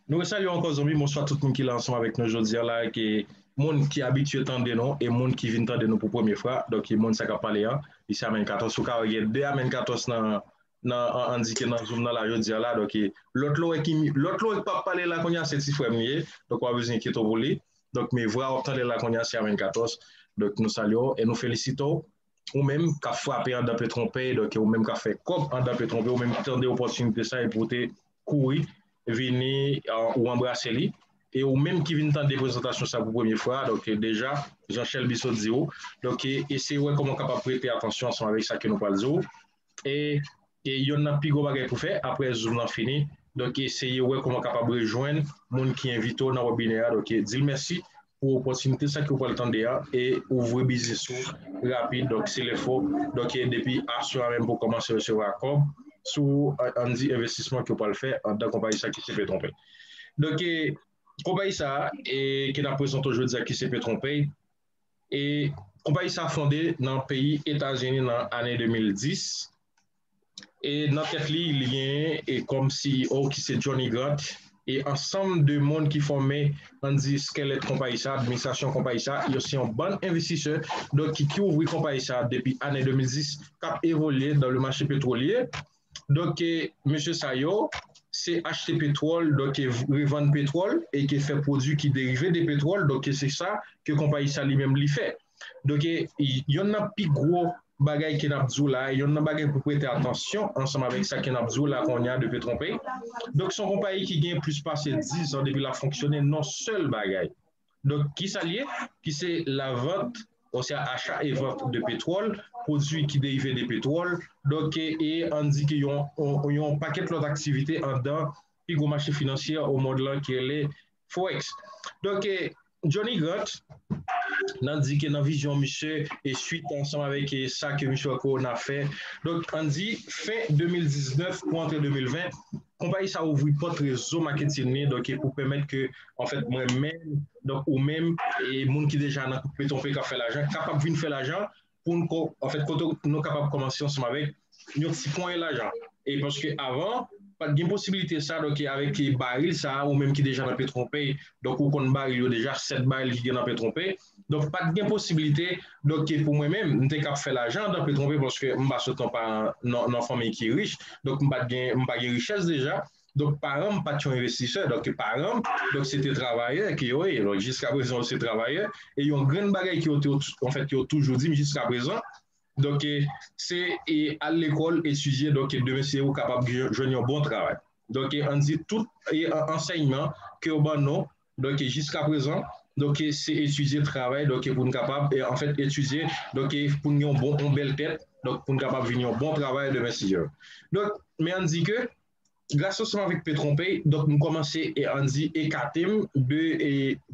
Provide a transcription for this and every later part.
Nou re salye w ankò zonbi, bonswa tout moun ki la ansanm avèk nou jodi a la, ke moun ki abitye tande nou e moun ki vin tande nou pou premye fra, donk e moun sa k ap pale an, li se Amèn 14, ou ka wè gen 2 Amèn 14 nan nan an endike nan zoom nan la jodi a la, donk e lòt la w wè ki mi, lòt la w wè k pa p pale la kounye a se ti frè m li ye, donk pa bezwen enkyete w pou li, donk men vra w ap tande la kounye a se Amèn 14, donk nou salye w e nou felisite w ou menm k ap frape andan pe twonpè, donk ou menm k ap fè kòb andan pe twonpè, ou menm ki tande opòtinite sa epi ou te kouri vini ou anbrase li, e ou menm ki vin tande prezantasyon sa pou premye fwa, donk deja jan Chèlbisot di ou, donk eseye wè kòman w kapab prete atansyon ansanm avèk sa ke nou pral di ou. E yonn nan pi gwo bagay pou fè aprè zoom lan fini donk eseye wè kouman w kapab rejwenn moun ki envite w nan webinè a donk di l mèsi pou opòtinite sa ke w pral tande a e ouvri biznis ou rapid donk se lè fò donk depi aswè a menm pou w kòmanse resevwa kòb sou ann di envestisman ke w pral fè anndan konpayi sa ki se Petronpay donk konpayi sa a ke n ap prezante w jodi a ki se Petronpay. e konpayi sa fonde nan peyi Etazini nan ane 2010 e nan tèt li li genyen kòm CEO ki se Johnny Grant e ansanm de moun ki fòme ann di skelèt konpayi sa, administrasyon konpayi sa, yo se yon bann envestisè donk ki ouvri konpayi sa depi ane 2010 k ap evolye dan le mache petwolye. Donk ke mesye sa yo se achte petwòl, donk ke revann petwòl e ke fè pwodui ki derive de petwòl, donk ke se sa ke konpayi sa li menm li fè. Donk ke yonn nan pi gwo bagay ke n'ap di w la, yonn nan bagay pou prete atansyon ansanm avèk sa ke n'ap di w la kounye a de Petronpay, donk se yon konpayi ki gen plis pase 10 zan depi l'ap fonksyone, non sèl bagay. Donk ki sa l ye? Ki se lavant osya acha e vant de petwòl, pwodui ki derive de petwòl, donk e an n di ke yon yon pakèt lòt aktivite anndan pi gwo mache finansyè omonn lan ki rele Forex. Donk e Johnny Grant nan di ke nan vizyon misye e suit ansanm avèk e sa ke misye wè ke ona fè, donk an n di fen 2019 pou antre 2020, Konpayi sa ouvri pòt rezo maketin li donk pou pèmèt ke anfèt mwen menm donk ou menm e moun ki deja nan betonfre k ap fè lajan kapab vin fè lajan pou n ko anfèt kote nou kapab kòmanse ansanm avèk yon ti ponyen lajan e paske avan pa t gen posibilite sa donk avèk baril sa ou menm ki deja nan petwonpè donk ou konn baril yo deja 7 baril ki gen nan petwonpè Donk pat gen posibilite donk ke pou mwen menm m te kap fè lajan andan pe twonpe paske m pa sot nan paran nan fanmiy ki rich donk m pat gen m pa gen richès deja donk paran m pat yon envestisè donk paran m donk se te travayè ke yo ye donk jiska prezan yo se travayè e yon grenn bagay ke yo te anfèt ke yo toujou di m jiska prezan donk ke se e al lekòl etidye donk ke demen se ou kapab jwenn yon bon travay donk ke an di tout e ansèyman ke yo ban nou Donk jiska prezan, donk se etidye travay donk pou n kapab anfèt etidye donk pou n gen yon bon yon bèl tèt donk pou n kapab vin yon bon travayè demen si Dye vle. Donk men an n di ke gras ansanm avèk Petronpey donk m kòmanse an n di ekate m de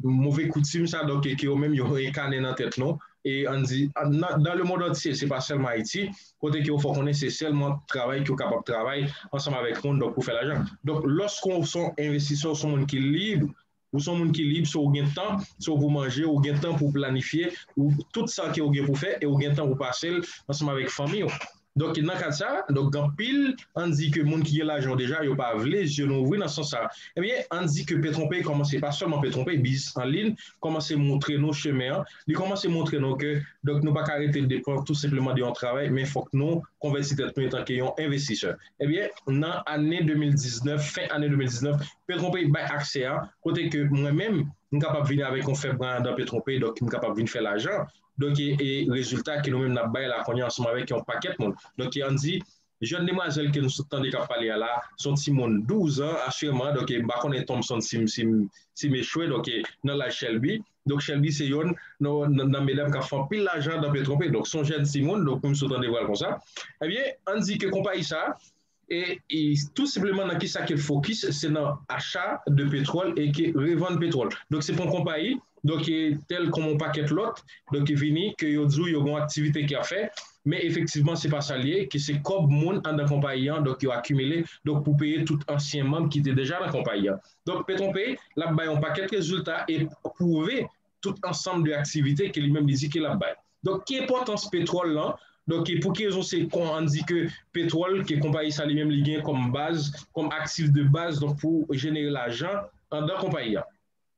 move koutim sa donk ke yo menm yo enkane nan tèt nou e an n di nan lemond antye se pa sèlman Ayiti kote ke ou fè konnen se sèlman travay ke ou kapab travay ansanm avèk moun donk pou fè lajan. Donk lòske ou son envestisè ou son moun ki lib, ou son moun ki lib se ou gen tan, se ou pou manje, ou gen tan pou planifye ou tout sa ke ou gen pou fè e ou gen tan pou pase l ansanm avèk fanmi ou. Donk nan kad sa, donk gen anpil ann di ke moun ki gen lajan yo deja yo pa vle zye nou ouvri nan sans sa. Ebyen ann di ke Petronpay kòmanse pa sèlman Petronpay, biznis an lin kòmanse moutre nou chemen an Li kòmanse montre nou ke donk nou pa ka rete depan tou senpleman de yon travay men fòk nou konvèti tèt nou etanke yon envestisè. Ebyen, nan ane 2019, fen ane 2019, Petrompey bay aksè a kote ke mwen menm, m kapab vini avèk yon fèb randan Petrompey donk m kapab vin fè lajan donk e rezilta ke nou menm n ap bay la kounye a ansanm avèk yon pakèt moun donk e an di Jèn demwazèl ke nou sot tande kap pale a la, se yon timoun 12 an asirèman, donk e m pa konnen Thompson si m si m si m echwe, donk e nan laj Shelby, donk Shelby se yonn nan nan medam kap fè anpil lajan dan Petronpé, donk se yon jèn timoun, donk pou m sot tande pral konsa, ebyen ann di ke konpayi sa e e tou senpleman nan kisa ke l fokis se nan acha de petwòl e ke revann petwòl, donk se pou yon konpayi Donk e tèl kòm yon pakèt lòt, donk ki vini ke yo di w yo gon aktivite ki ap fè, men efektivman se pa sa l ye, ke se kòb moun anndan konpayi an, donk yo akimile, donk pou peye tout ansyen manb ki te deja nan konpayi an. Donk Petronpe, l ap bay yon pakèt rezilta e pwouve tout ansanm de aktivite ke li menm li di ke l ap bay. Donk ki enpòtans petwòl lan, donk e pou ki rezon se kon an di ke petwòl ke konpayi sa li menm li gen kòm baz, kòm aktif de baz donk pou jenere lajan anndan konpayi an.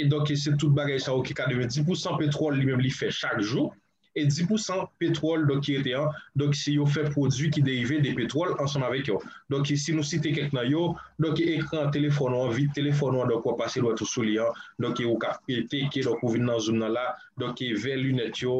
e donk e se tout bagay sa yo ki ka devenn di pousan petwòl li menm li fè chak jou e di pousan petwòl donk ki rete an donk se yo fè pwodui ki derive de petwòl ansanm avèk yo donk e si nou site kèk nan yo donk e ekran telefòn ou an vit telefòn ou an donk wap pase dwèt ou sou li an donk e ou ka pete ke donk ou vin nan zoum nan la donk e vè linèt yo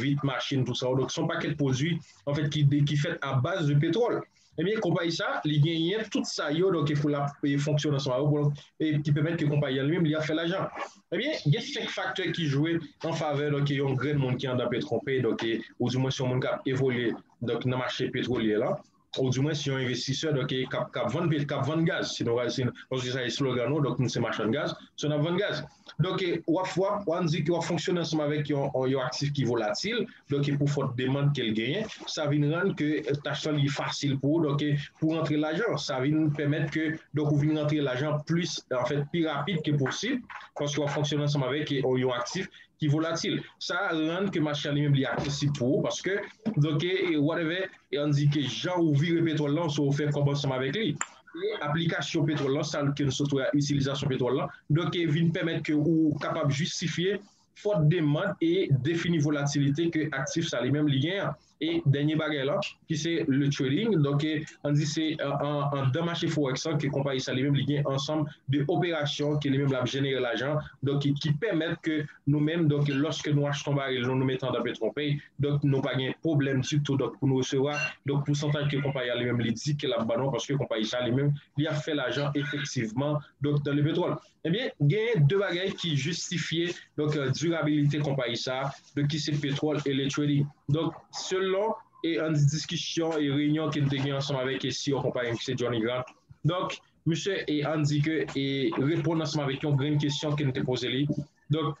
vit machin tou sa yo donk son pakèt pwodui anfèt ki de ki fèt abaz de petwòl. Ebyen konpayi sa li genyen tout sa yo donk pou lap fonksyon ansanm avèw pou ki pèmèt ke konpayi an li menm li ap fè lajan ebyen gen 5 faktè ki jwe an favè donk yon grenn moun ki andan Petronpay donk ou di mwen si yon moun kap evolye donk nan mache petwolye lan ou di mwen si yon envestisè donk kap vann pèt kap vann gaz si nou al si paske sa eslogan nou donk nou se machann gaz so nap vann gaz. Donk wap wan di ke wap fonksyone ansanm avèk yon aktif ki volatil, donk pou fòt demand ke l genyen, sa vin rann ke tach lan li fasil pou ou, donk pou rantre lajan, sa vin pèmèt ke donk ou vin rantre lajan plis anfèt pi rapid ke posib, paske wap fonksyone ansanm avèk yon aktif ki volatil. Sa rann ke mache an li menm li aksesib pou ou, paske donk whatever, an di ke jan ou vire petwòl lan, se ou fè kòb ansanm avèk li. Apre aplikasyon petwòl lan, sa ke nou sot wè a, itilizasyon petwòl lan, donk vin pèmèt ke ou kapab jistifye fòt demand e defini volatilite ke aktif sa li menm li gen an. E dènye bagay lan, ki se le trading, donk an di se anndan mache forèks lan ke konpayi sa li menm li gen ansanm de operasyon ke li menm l ap jenere lajan, donk ki pèmèt ke Nou menm donk lòske nou achte yon baril nou nou mete andan petronpay donk nou pa gen pwoblèm ditou donk pou nou resevwa donk pousantaj ke konpayi a li menm li di ke lap ban nou an paske konpayi sa li menm li ap fè lajan efektivman donk nan lepetwòl ebyen genyen de bagay ki jistifye donk dirabilite konpayi sa donk ki se petwòl e letredi donk selon e an di diskisyon e reyinyon ke nou te gen ansanm avèk e si o konpayi ki se Johnny Grant donk. Misye e an di ke e reponn ansanm avèk yon grenn kesyon ke n te poze li. Donk,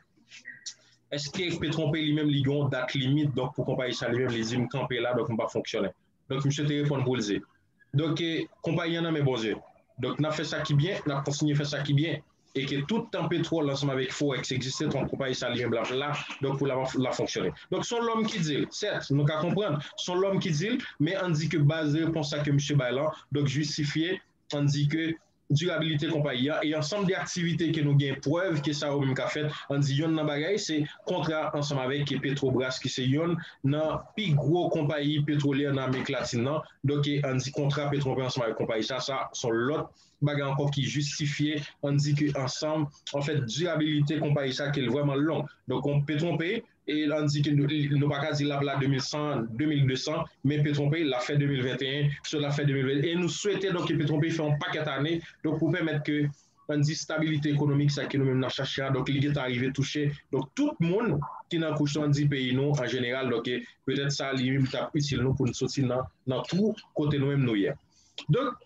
eske Petronpe li menm li gen yon dat limit donk pou konpayi sa li menm li di m kanpe la donk m pa fonksyone. Donk misye te reponn pou l di. Donk e konpayi an nan men Bondye. Donk n ap fè sa ki byen, n ap kontinye fè sa ki byen. e ke tout tan petròl ansanm avèk forex egziste ton konpayi sahalyens blan ap la donk pou la lap fonksyone donk son lòm ki dil sèt nou ka konprann son lòm ki dil men ann di ke baz repons sa ke misye bay lan donk jistifye ann di ke dirabilite konpayi a e ansanm de aktivite ke nou gen prèv ke sa yo menm ka fèt ann di yonn nan bagay se kontra ansanm avèk petrobras ki se yonn nan pi gwo konpayi petwolyè nan amerik latin nan donk ann di kontra petronpè ansanm avèk konpayi sa sa son lòt bagay ankò ki jistifye an di ke ansanm an fèt dirabilite konpayi sa ke l vrèman long donk kon petronpe e an di ke nou pa ka di l ap la 2100 2200 men petronpe l ap fè 2021 so l ap fè 2020 e nou swete donk ke petronpe fè yon pakèt ane donk pou pèmèt ke an di stabilite ekonomik sa ke nou menm n ap chache a donk li gentan rive touche donk tout moun ki nan kouch an di peyi nou an jeneral donk e petèt sa li menm li t ap itil nou pou n soti nan nan twou kote nou menm nou ye donk.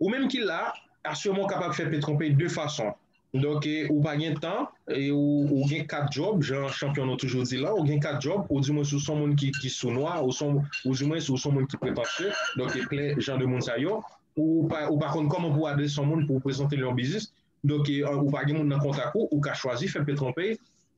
Ou menm ki la, asirman ou kapab fè PetronPay 2 fason. Donk ou pa gen tan e ou gen 4 djòb, jan chanpyon nou toujou di la, ou gen 4 djòb, ou di mwens ou son moun ki sou nwa, ou di mwens ou son moun ki pretanse, donk e plen jan de moun sa yo, ou pa konn kòman pou adrese yon moun pou prezante l yon biznis, donk ou pa gen moun nan kontak ou, ou ka chwazi fè PetronPay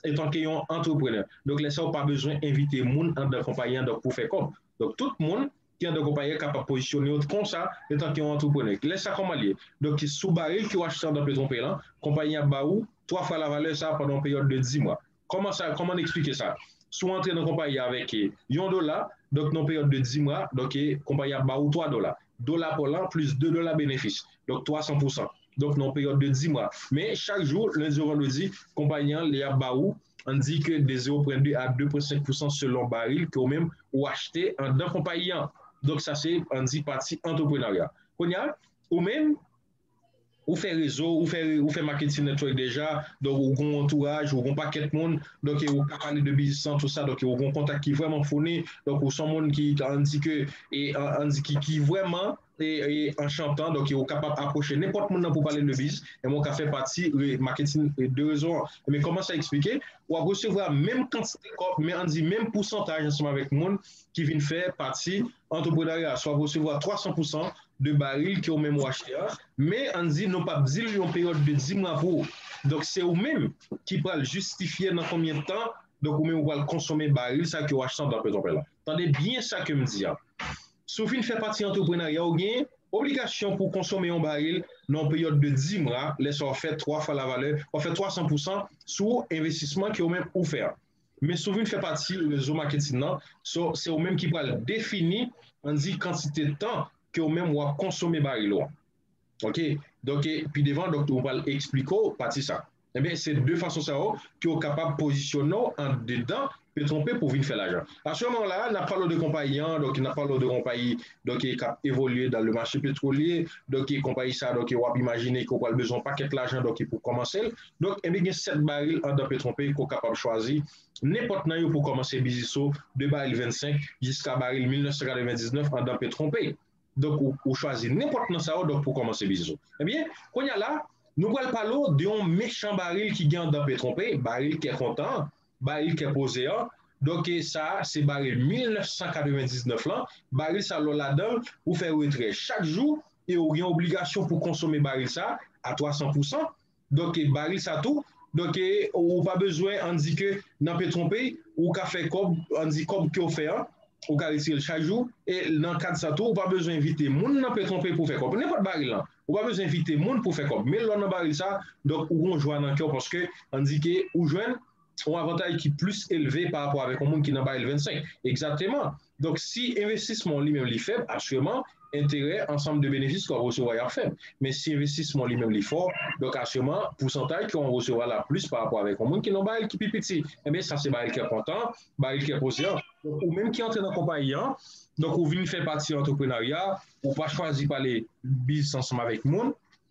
etanke yon antreprenè. Donk lè sa ou pa bezwen envite moun anndan konpayi an donk pou fè kòb. Donk tout moun Kiyè de konpayi a kapab pozisyone yo konsa etan ke yon antreprenè? Kilè sa kòman li ye? Donk ki sou baril ke ou achte andan Petronpay lan, konpayi an ap ba ou 3 fwa la valè sa pandan yon peryòd de 10 mwa. Kòman sa, kòman n eksplike sa? Si ou antre nan konpayi a avèk yon dola, donk nan yon peryòd de 10 mwa, donk konpayi ap ba ou 3 dola. Dola pa w lan plis 2 dola benefis, donk 300 pousan. Donk nan yon peryòd de 10 mwa. Men chak jou, lendi ou vandredi, konpayi an li ap ba ou. Ann di ke de 0 pwen 2 a 2 pwen 5 pousan selon baril ke ou menm ou achte anndan konpayi an. Donk sa se ann di pati antreprenarya. Kounye a, ou menm ou fè rezo ou, ou fè marketing network deja, donk ou gon antouraj, ou gon pakèt moun, donk e ou ka pale de biznis lan tou sa, donk e ou gon kontak ki vrèman founi, donk ou son moun ki ann di ke, ann di ki vrèman. an chantan donk ou kapab apwoche nenpòt moun nan pou pale de biz e mwen ka fè pati maketin de rezon an men kòman sa eksplike ou ap resevwa menm kantite kòb men an di menm pousantaj ansanm avèk moun ki vin fè pati antreprenarya sa ou ap resevwa 300 pousan de baril ke ou menm ou achte a men an di nou pap di l yon peryòd de di mwa pou ou donk se ou menm ki pral jistifye nan konbyen tan donk ou menm ou pral konsome baril sa ke ou achte antan pètropè la. Tande byen sa ke m di a. Si w fin fè pati antreprenarya ou gen obligasyon pou w konsome yon baril nan yon peryòd de 10 mwa, lè sa w ap fè 3 fwa lavalè, w ap fè 300 pousan sou envestisman ke ou menm ou fè a. Men si w vin fè pati rezo maketin nan, so se ou menm ki pral defini, ann di kantite tan ke ou menm w ap konsome baril ou an. Ok donk pi devan donk yo pral esplike w pati sa enben se de fason sa yo ke w kapab pozisyone w andedan Petronpe pou w vin fè lajan asèlman la a n ap pale w de konpayi an donk n ap pale w de konpayi donk e k ap evolye dan le mache petwolye donk e konpayi sa a donk e w ap imajine ke w pral bezwen w pakèt lajan donk e pou w kòmanse l donk enben gen 7 baril andan Petronpe ke w kapab chwazi nenpòt nan yo pou w kòmanse biznis ou de baril 25 jiska baril 1999 andan Petronpe. Donk ou chwazi nenpòt nan sa yo donk pou kòmanse biznis ou. Ebyen, kounye a la, nou pral pale w de yon mechan baril ki gen anndan Petron Pay, baril kè kontan an, baril kè poze an. Donk sa a se baril 1999 lan, baril sa a lè w ladan l, ou fè retrè chak jou e ou gen obligasyon pou konsome baril sa a a 300 pousan. Donk baril sa tou, donk ou pa bezwen an di ke nan Petronpay ou ka fè kòb, an di kòb ke ou fè an ou ka retire l chak jou e nan kad sa tou ou pa bezwen envite moun nan Petronpay pou fè kòb. Nenpòt baril lan, ou pa bezwen envite moun pou fè kòb. Men lè w nan baril sa, donk ou gen yon jwa nan kè w paske an di ke ou jwenn yon avantaj ki plis elve pa rapò avèk yon moun ki nan baril 25. Egzateman! Donk si envestisman w li menm li fèb, asirèman enterè ansanm de benefis ke w ap resevwa yo ap fèb. Men si envestisman w li menm li fò, donk asirèman pousantaj ke w ap resevwa la ap plis pa rapò avèk yon moun ki nan baril ki pi piti. Enben sa se baril kè kontan, baril kè konsyan. Donk ou menm ki antre nan konpayi an, donk ou vin fè pati antreprenarya, ou pa chwazi pale biznis ansanm avèk moun,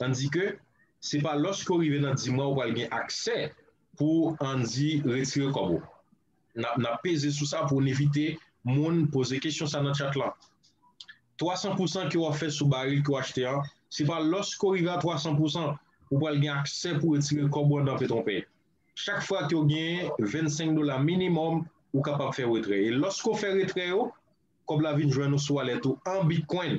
Tandike, se pa lòske ou rive nan dimwa ou pral gen aksè pou Andy retire kòb ou. Nap nap peze sou sa pou n evite moun poze kesyon sa nan chat lan. 300 pousan ke wap fè sou baril ke w achte an, se pa lòske ou rive a 300 pousan ou pral gen aksè pou retire kòb ou andan Petronpè. Chak fwa ke w gen 25 dola minimòm ou kapab fè retrè. E lòske w fè retrè yo, kòb la vin jwenn ou sou walèt ou an Bitcoin.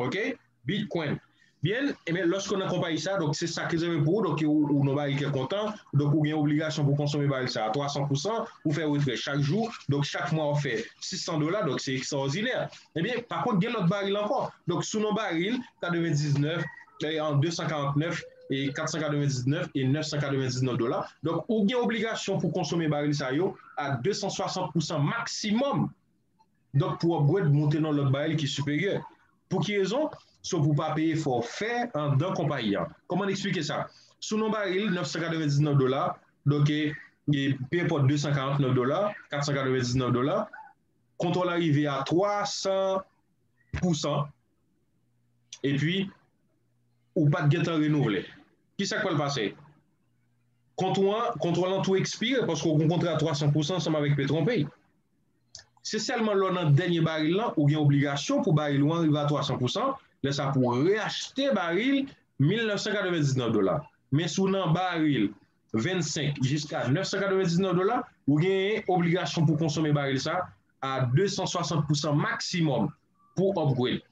Ok Bitcoin Byn ebyen loske w nan konpayi sa donk se sak rezève pou ou donk ou nan baril kè kontan donk ou gen obligasyon pou konsome baril sa a 300 pousan ou fè retrè chak jou donk chak mwa wap fè 600 dola donk se ekstraòdinè ebyen pa kont gen lòt baril ankò donk sou nan baril 99 an 249 e 499 e 999 dola donk ou gen obligasyon pou konsome baril sa yo a 260 pousan maksimòm Donk pou upgrade moute nan lòt baril ki siperyè. Pou ki rezon? So pou pa peye fòfè andan konpayi an. Kòman n eksplike sa? Si w nan baril 999 dola, donk e pe enpòt 249 dola, 499 dola, kontwòl an rive a 300 pousan, epi ou pa t gen tan renouvle. Ki sa k pral pase? Kontwò an, kontwòl an tou ekspire paske w gen yon kontra a 300 pousan ansanm avèk Petronpay. Se sèlman lè w nan dènye baril lan ou gen obligasyon pou baril ou an rive a 300 pousan, lè sa pou reachte baril 1999 dola. Men si w nan baril 25 jiska 999 dola, ou genyen obligasyon pou konsome baril sa a 260 pousan maksimòm pou upgrade.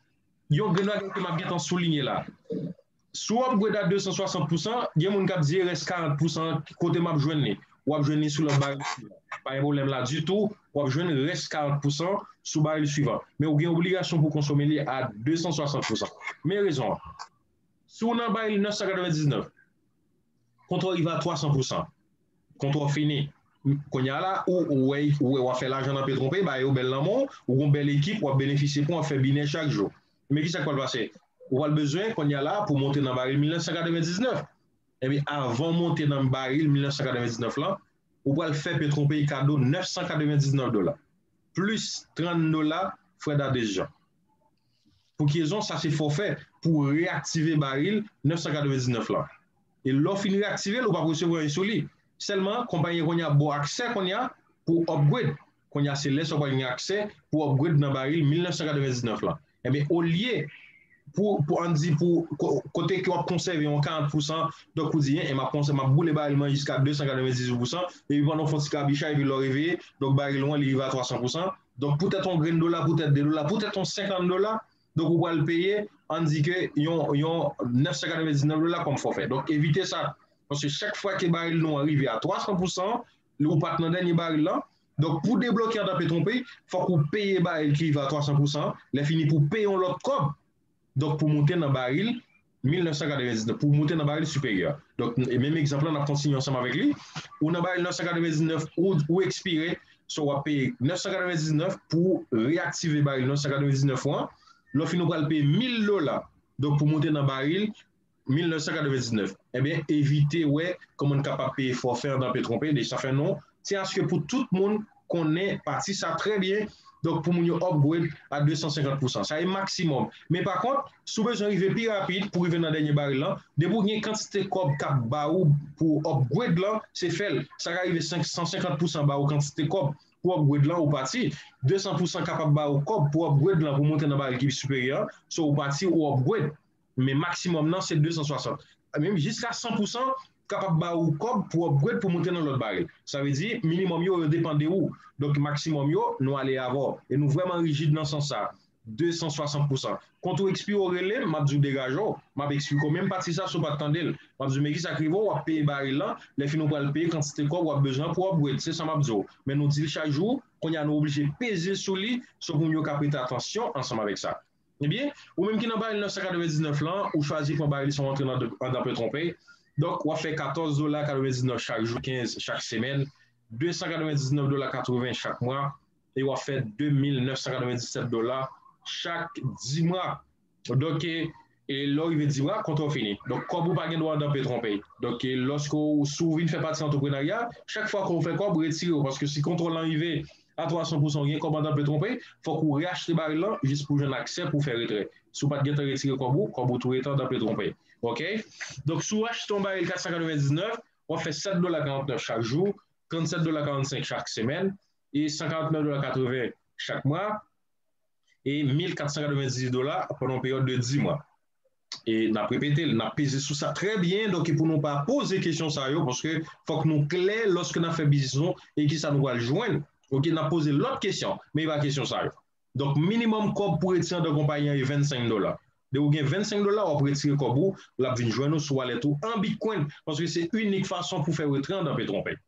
Yon grenn bagay ke m ap gen tan soulinye la. Si w upgrade a 260 pousan, gen moun k ap di e rès 40 pousan an kote m ap jwenn li? W ap jwenn li sou lòt baril sou la. Pa gen pwoblèm la ditou, w ap jwenn rès 40 pousan sou baril swivan. Men ou gen obligasyon pou konsome li a 260 pousan. Men rezon an. Si w nan baril 999, Kontra w rive a 300 pousan. Kontra w fini. Kounye a la, ou wè ou wè w ap fè lajan nan petwon peyi, bagay yo bèl nan men w, ou gen yon bèl ekip w ap benefisye pou w ap fè binè chak jou. Men ki sa k pral pase? Ou pral bezwen kounye a la pou w monte nan baril 1999. Enben, avan w monte nan baril 1999 lan, ou pral fè petwon peyi kado 999 dola, plis 30 dola frè dadesjan. pou ki rezon sa se fòfè pou ou reyaktive baril 999 lan e lè w fin reyaktive l ou pap resevwa anyen sou li sèlman konpayi an kounye a ba w aksè kounye a pou w upgrade kounye a se lè sa w pral gen aksè pou w upgrade nan baril 1999 lan enben olye pou pou an di pou kote ke w ap konsève yon 40 pousan donk ou di e m ap konsè m ap boule baril mwen jiska 298 pousan epi pandan w fè yon ti kabichaj epi lè w reveye donk baril ou an li rive a 300 pousan Donk pou tèt on grenn dola, pou tèt 2 dola, pou tèt on 50 dola, donk ou pral peye, ann di ke yon 999 dola kòm fòfè. Donk evite sa, paske chak fwa ke baril nou an rive a 300 pousan, lè ou pat nan dènye baril lan, donk pou debloke andan petwonpe, fòk ou peye baril ki rive a 300 pousan, lè fini pou peye on lòt kòb, donk pou moute nan baril. 1999 pou w moute nan baril siperyè a. Donk, menm egzanp lan, n ap kontinye ansanm avèk li. Ou nan baril 999, ou ou ekspire, so w ap peye 999 pou w reyaktive baril 999 ou an. Lè w fin ou pral peye 1000 dola, donk pou moute nan baril 1999. Enben, evite wè kòman n kapab peye fòfè an danpe twonpe, deja sa fè non, se aske pou tout moun, konnen pati sa trè byen donk pou moun yo upgrade a 250 pousan sa e maksimòm men pa kont si w bezwen rive pi rapid pou rive nan dènye baril lan depi w gen kantite kòb k ap ba ou pou w upgrade lan se fè l sa ka rive 150 pousan ba ou kantite kòb pou w upgrade lan ou pati 200 pousan kapab ba ou kòb pou w upgrade lan pou w monte nan baril ki pi siperyè an so ou pati ou upgrade. Men maksimòm nan se 260. Menm jiska 100 pou san kapab ba ou kòb pou upgrade pou moute nan lòt baril. Sa vle di minimòm yo, yo depan de ou. Donk maksimòm yo, nou ale avè w. E nou vrèman rijid nan sans sa. 260 pou san. Kont ou ekspire ou rele m, m ap di w degaje w. M ap eksplike w menm pati sa si w pa t tande l. M ap di w men kisa k rive w, w ap peye baril lan, lè fini w pral peye kantite kòb w ap bezwen an pou upgrade. Se sa m ap di w. Men nou di l chak jou, kounye a nou oblije peze sou li, se pou moun yo ka prete atansyon ansanm avèk sa. Ebyen, ou menm ki nan baril 999 lan, ou chwazi pran baril sa w antre andan pe twonpey, donk w ap fè 14 dola 99 chak jou, 15 chak semèn, 299 dola 80 chak mwa, e w ap fè 2997 dola chak dimwa. Donk, lè w rive dimwa, kontra w fini. Donk, kòb ou pa gen dwa andan pe twonpey. Donk, lòske w, si w vin fè pati antreprenarya, chak fwa ke w fè kòb, retire w, paske si kontwòl lan rive, a 300 pousan ou gen kòb antanpe twonpe fòk ou reachte baril lan jis pou jwenn aksè pou fè retrè si w pat gentan retire kòb ou kòb ou tou etan tanpe twonpe ok donk si w achte yon baril 499 wap fè 7 dola 49 chak jou 37 dola 45 chak semèn e 149 dola 80 chak mwa e 1498 dola pandan yon peryòd de 10 mwa. e nap repete l, nap peze sou sa trè byen donk e pou nou pa poze kesyon sa yo paske fòk nou klè lòske nap fè biznis nou e kisa nou pral jwenn ok nap poze lòt kesyon men e pa kesyon sa yo donk minimòm kòb pou retire andan konpayi an e 25 dola de ou gen 25 dola wap retire kòb ou lap vin jwenn ou sou walèt ou an bitcoin paske se inik fason pou fè retire andan petronpè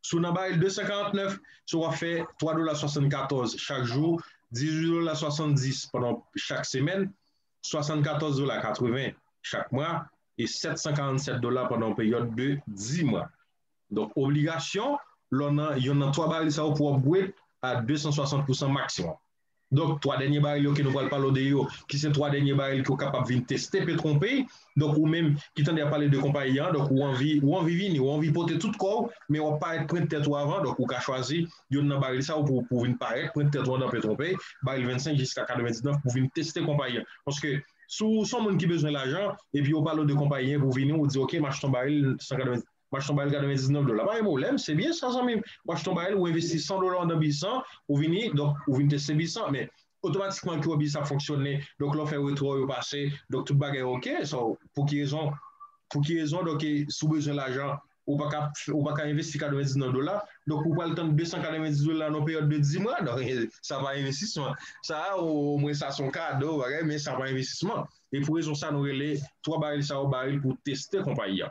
si w nan baril 249 se wap fè 3 dola 74 chak jou 18 dola 70 pandan chak semèn 74 dola 80 chak mwa e 747 dola pandan yon peryòd de 10 mwa. Donk obligasyon lè w nan yonn nan 3 baril sa yo pou w ap bwe a 260 pousan maksimòm. Donk 3 dènye baril yo ke nou pral pale w de yo ki se 3 dènye baril ke w kapab vin teste pe twonpe donk ou menm ki tande y ap pale de konpayi an donk ou anvi ou anvi vini ou anvi pote tout kò w men w ap parèt prent tèt ou avan donk ou ka chwazi Youn nan baril sa yo pou pou vin parèt, pwente tèt ou andan pè twonpèy, baril 25 jiska 99 pou vin teste konpayi an. Paske si w son moun ki bezwen lajan, epi yo pale w de konpayi an pou vini ou di ok m achte yon baril 190, m achte yon baril 99 dola. Pa gen pwoblèm, se byen sa zanmi m. Ou achte yon baril, ou envesti 100 dola andan biznis an, ou vini, donk ou vin teste biznis an. Men, otomatikman kiwo bis ap fonksyone donk lè w fè retrò yo pase donk tout bagay ok so pou ki rezon pou ki rezon donk e si w bezwen lajan ou pa ka ou pa ka envesti 90 nan dola donk ou pral tann 290 dola nan yon peryòd de 10 mwa donk e sa pa envestisman sa a o mwen sa se yon kado bagay men sa pa envestisman e pou rezon sa a nou rele 3 baril sa yo baril pou teste konpayi a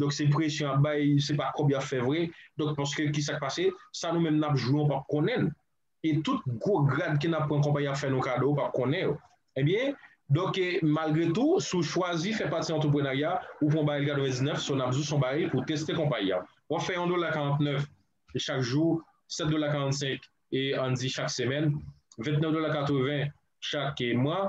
Donk se presyon yap bay se pa kòb yap fè vre donk paske kisak pase sa nou menm nap jwe ou pap konnenl e tout gwo grad ke nap pran konpayi ap fè nou kado ou pap konnen yo ebyen donk malgre tou si ou chwazi fè pati antreprenarya ou pran baril 99 so nap di ou son baril pou teste konpayi a wap fè yon dola 49 chak jou 7 dola 45 e ann di chak semèn 29 dola 80 chak mwa.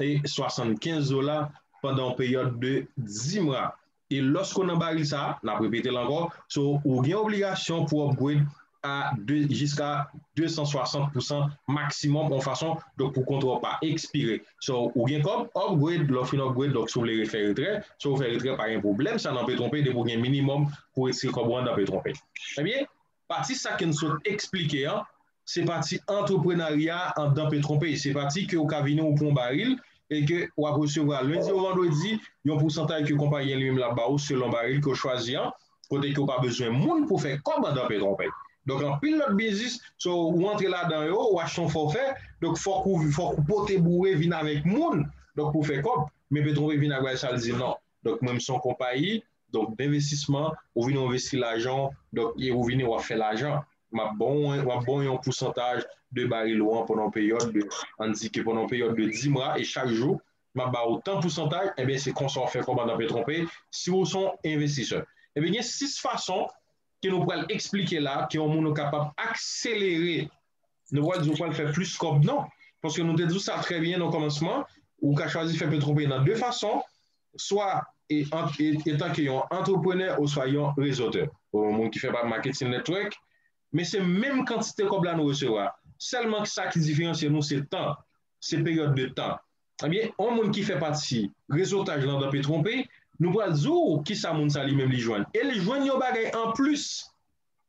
e 75 dola pandan yon peryòd de 10 mwa e lòske w nan baril sa a, n ap repete l ankò, so ou gen obligasyon pou w upgrade a jiska 260 pousan maksimòm yon fason donk pou kontra w pa ekspire so ou gen kòb upgrade lè w fin upgrade donk si w vle refè retrè so ou fè retrè pa gen pwoblèm sa nan Petronpay depi w gen minimòm pou w retire kòb ou andan Petronpay ebyen Pati sa ke n sot esplike an, se pati antreprenarya andan Petronpéch. Se pati ke ou ka vini ou pran w baril e ke w ap resevwa lendi ou vandredi yon pousantay ke konpayi an li menm l ap ba ou selon baril ke w chwazi an, kote ke ou pa bezwen moun pou fè kòb andan Petronpéch. Donk anpil lòt biznis, so ou antre ladan yo, ou achte yon fòfè, donk fòk ou fòk ou pote boure vin avèk moun donk pou fè kòb. Men Petronpéch vin ak bagay sa l di non. Donk mwen m son konpayi, donk denvestisman, ou vini w envesti lajan w, donk e ou vini w ap fè lajan. M ap ba w m ap ba w yon pousantaj de baril ou an pandan yon peryòd de, an n di ke pandan yon peryòd de 10 mwa e chak jou m ap ba w tan pousantaj, enben se konsa w fè kòb andan Petronpay si w son envestisè. Enben gen 6 fason ke nou pral eksplike la ke yon moun ou kapab akselere nou pa di ou pral fè plis kòb non, paske nou te di w sa trè byen nan kòmansman, ou ka chwazi fè petwopriyè nan de fason, swa etanke yon antreprenè oswa yon rezotè, yon moun ki fè pa maketin netwòk, men se menm kantite kòb la nou resevwa, sèlman sa ki diferansye nou se tan, se peryòd de tan. Ebyen, yon moun ki fè pati rezotaj lan nan petwopri, nou pral di w kisa moun sa li menm li jwenn, e li jwenn yon bagay anplis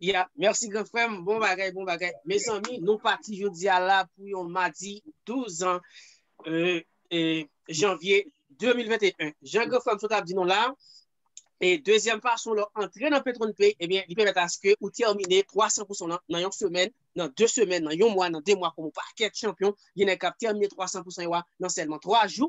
Ya, mèsi gran frè m, bon bagay, bon bagay. Mezanmi, nou pati jodi a la pou yon madi 12 an janvye 2021. Jan gran frè m sot ap di nou la, e dezyèm fason lè w antre nan Petron Pay, ebyen li pèmèt aske ou tèmine 300 pousan w lan nan yon semèn, nan 2 semèn, nan yon mwa, nan 2 mwa, kòm ou pa kèk chanpyon, gen nèg k ap tèmine 300 pousan yo a nan sèlman 3 jou.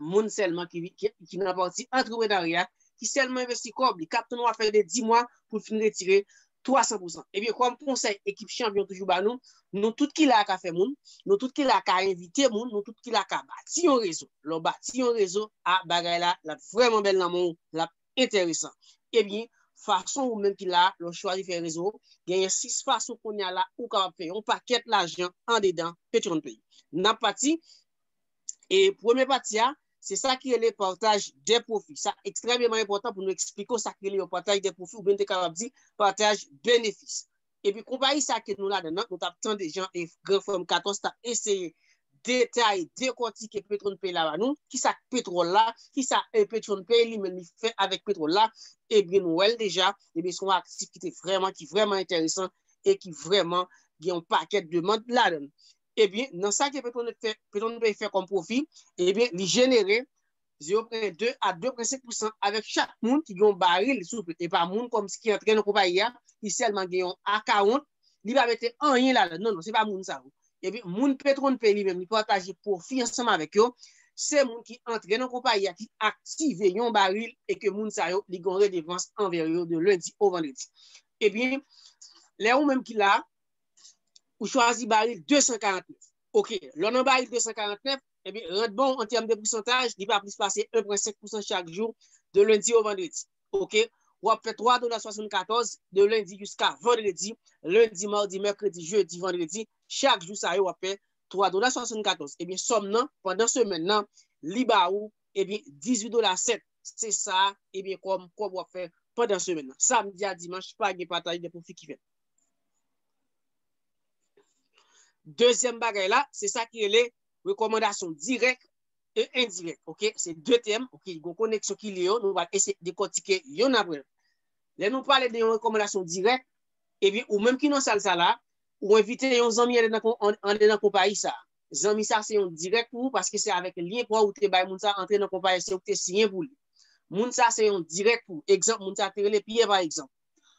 moun sèlman ki nan pati antreprenarya, ki sèlman envesti kòb li, k ap tann w ap fè de di mwa pou l fin retire 300 pou san. Ebyen, kòm konsèy ekip chanpyon toujou ba nou, nou tout ki la a ka fè moun, nou tout ki la a ka envite moun, nou tout ki la a ka bati yon rezo. Lè w bati yon rezo, a bagay la, l ap vrèman bèl nan men w, l ap enteresan. Ebyen, fason ou menm ki la a, lè w chwazi fè rezo w, genyen 6 fason kounya la ou kapab fè yon pakèt lajan andedan Petion Play. N ap pati. E premye pati a, se sa ki rele pataj de pwofi. Sa ekstrèmeman enpòtan pou nou eksplike w sa ki rele yon pataj de pwofi oubyen nou te kapab di pataj benefis. Epi konpayi sa ke nou ladan l lan, nou t ap tande jan gran frè m Katòs t ap eseye detaye, dekòtike Petronpay la ba nou, ki sa k petwòl la, ki sa Petronpay li menm li fè avèk petwòl la, ebyen nou wè l deja, ebyen se yon aktif ki te vrèman, ki vrèman enteresan e ki vrèman gen yon pakèt demand ladan l. ebyen nan sa ke Petronèt fè kòm pwofi, ebyen li jenere 0,2 a 2,5 pousan avèk chak moun ki gen yon baril sou pye, e pa moun kòmsi ki antre nan konpayi a, ki sèlman gen yon akawont, li pa mete anyen ladan, non non, se pa moun sa yo. Ebyen moun Petronpe li menm li pataje pwofi ansanm avèk yo, se moun ki antre nan konpayi a ki aktive yon baril e ke moun sa yo li gen yon redevans anvè yo de lendi o vandredi. Ebyen lè ou menm ki la, ou chwazi baril 249. Ok, lè w nan baril 249, epi rent bon an tèm de pousantaj, li pa plis pase 1.5 pousan chak jou de lendi o vandredi. Ok, w ap fè 3 dola 74 de lendi jiska vandredi, lendi, madi, mèkredi, jedi, vandredi, chak jou sa yo w ap fè 3 dola 74. Ebyen sòm nan pandan semèn nan li ba ou ebyen 18 dola 7. Se sa ebyen kòm kòb w ap fè pandan semèn nan. Samdi a dimanch pa gen pataj de pwofi ki fèt. Dezyèm bagay la, se sa ki rele rekomandasyon dirèk e endirèk. Ok, se de tèm, ok, yon koneksyon ki li yo, nou va ese dekotike yon apre. Lè nou pale de yon rekomandasyon dirèk, epi eh ou menm ki nan sal sa la, ou envite yon zanmi ale nan konpayi sa. Zanmi sa se yon dirèk pou ou, paske se avèk lyen pa ou te bay moun sa antre nan konpayi, se ou ki te siyen pou li. Moun sa se yon dirèk pou ou. Egzanp, moun sa te rele Pyè pa egzanp.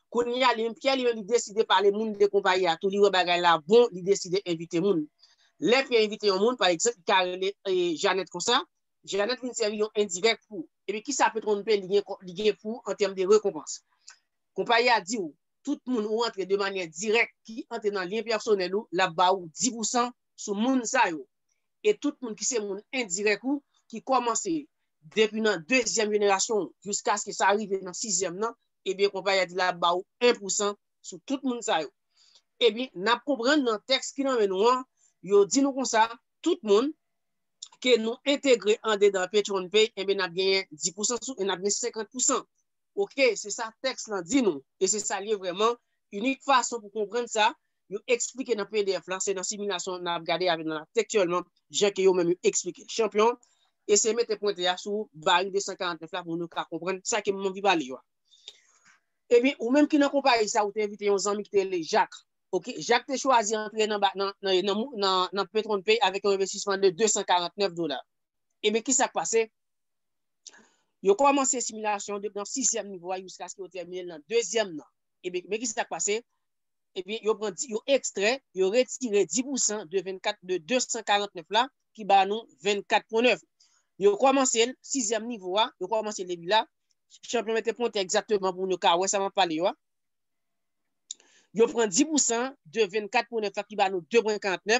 Kounye a, li menm Pyè, li menm li deside pale moun de konpayi a tou. Li wè bagay la bon, li deside envite moun. Lè Pyè envite yon moun, pa egzanp, li ka rele Janèt konsa, Janèt vin sèvi yon endirèk pou ou. Epi ki sa Petwon P li gen pou ou an tèm de rekonpans? Konpayi a di ou, tout moun ou antre de manyè dirèk ki antre nan lyen pèsonèl ou, l ap ba ou di pousan sou moun sa yo. e tout moun ki se moun endirèk ou ki kòmanse depi nan dezyèm jenerasyon ou jiskaske sa rive nan sizyèm nan, ebyen konpayi a di l ap ba ou 1 pousan sou tout moun sa yo. Ebyen, n ap konprann nan tèks ki nan men nou an, yo di nou konsa, tout moun ke nou entegre andedan PetronPay, enben n ap genyen 10 pousan sou e n ap gen 50 pousan. Ok, se sa tèks lan di nou e se sa l ye vrèman, inik fason pou konprann sa, yo eksplike nan pdf la se nan similasyon nap gade avèk nan tektyèlman jan ke yo menm yo eksplike. Chanpyon, eseye mete pwente a sou vari 249 la pou nou ka konprann sa ke m anvi pale yo a. Ebyen, ou menm ki nan konpayi sa ou te envite yon zanmi ki te rele Jak. Ok, Jak te chwazi antre nan nan Petronpay avèk yon envestisman de 249 dola. Ebyen ki sak pase? Yo kòmanse similasyon depi nan sizyèm nivo a jiskaske yo tèmine l nan dezyèm nan. Ebyen, men ki sak pase? ebyen yo pran yo ekstrè, yo retire 10 pousan de 24 de 249 la ki ba nou 24.9. Yo kòmanse l sizyèm nivo a, yo kòmanse l depi la, chanpyon mete pontè egzakteman pou nou ka wè sa m ap pale yo a, yo pran 10 pousan de 24.9 la ki ba nou 2.49,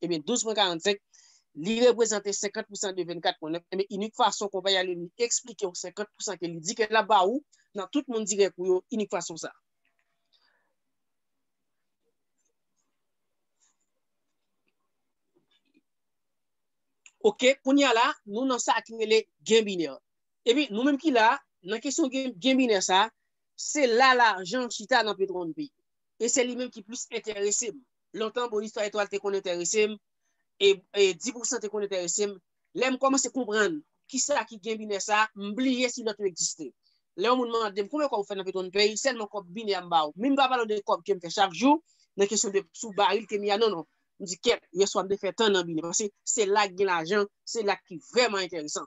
Ebyen 12.45 Li reprezante 50 pousan de 24.9 Ebyen inik fason konpayi a Lelou eksplike ou 50 pousan ke li di ke lap ba ou nan tout moun dirèk ou yo inik fason sa. Ok kounye a la nou nan sa ki rele gen binè. Ebyen nou menm ki la nan kesyon gen binè sa se la lajan chita nan petronpi e se li menm ki plis enterese m. lontan bon istwa etwal te konn enterese m e di pou san te konn enterese m lè m kòmanse konprann kisa ki gen binè sa m bliye si lòt yo egziste lè yon moun mande m konbyen kòb ou fè nan petro n pay sèlman kòb binè a m ba ou min m pa pale w de kòb ke m fè chak jou nan kesyon de sou baril ke m ye a non non m di kèt yèswa m te fè tan nan binè paske se la ki gen lajan se la ki vrèman enteresan.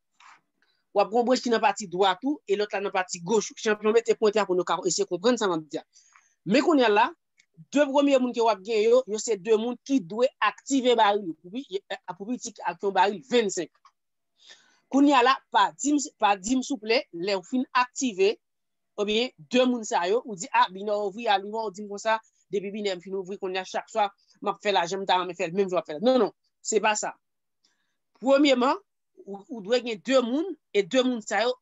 Wap gen yon branch ki nan pati dwat ou e lòt la nan pati goch ou. Chanpyon mete pwente a pou nou ka eseye konprann sa map di a. Men kounya la, 2 premye moun ke wap gen yo, yo se 2 moun ki dwe aktive baril yo pou pou pi ti ak yon baril 25. Kounya la, pa dim pa dim souple lèw fin aktive ebyen 2 moun sa yo, ou di a binè ouvri a li wè ou dim konsa depi binè m fin ouvri kounya chak swa map fè la janm ta renmen fèl menm jan wap fèl la. Non non, se pa sa. Premyeman, ou dwe gen 2 moun, e 2 moun sa yo,